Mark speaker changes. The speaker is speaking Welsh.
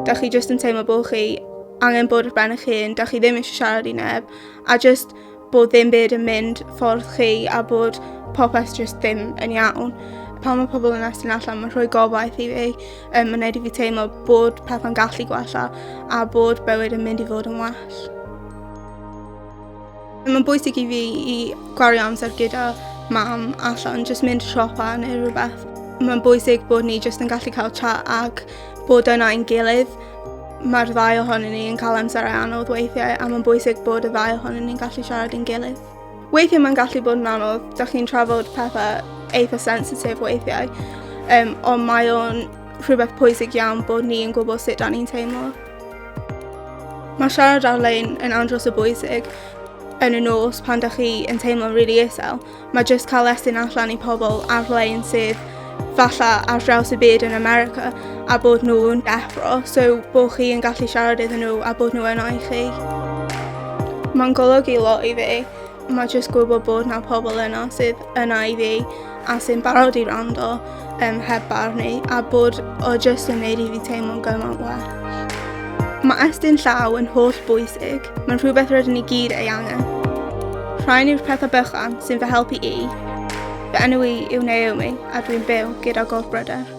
Speaker 1: Da chi jyst yn teimlo bod chi angen bod ar ben eich hun, da chi ddim eisiau siarad i neb, a jyst bod ddim byd yn mynd ffordd chi a bod popeth jyst ddim yn iawn. Pan mae pobl yn estyn allan, mae'n rhoi gobaith i fi, um, mae'n neud i fi teimlo bod pethau'n gallu gwella a bod bywyd yn mynd i fod yn well. Mae'n bwysig i fi i gwario amser gyda mam allan, jyst mynd siopa neu rhywbeth. Mae'n bwysig bod ni jyst yn gallu cael chat ac bod yna ein gilydd. Mae'r ddau ohonyn ni yn cael amser ei anodd weithiau a mae'n bwysig bod y ddau ohonyn ni'n gallu siarad yn gilydd. Weithiau mae'n gallu bod yn anodd, da chi'n trafod pethau eitha sensitif weithiau, um, ond mae o'n rhywbeth pwysig iawn bod ni'n gwybod sut da ni'n teimlo. Mae siarad ar-lein yn andros o bwysig yn y nos pan da chi yn teimlo'n rili really isel. Mae jyst cael lesyn allan i pobl ar-lein sydd falla ar draws y byd yn America a bod nhw'n deffro, so bod chi yn gallu siarad iddyn nhw a bod nhw yno i chi. Mae'n golygu lot i fi. Mae jyst gwybod bod na pobl yno sydd yna i fi a sy'n barod i rando um, heb barnu a bod o jyst yn neud i fi teimlo'n gymaint well. Mae estyn llaw yn holl bwysig, mae'n rhywbeth rydyn ni gyd ei angen. Rhain yw'r pethau bychan sy'n fy helpu i. Fy enw i yw Naomi a dwi'n byw gyda gof bryder.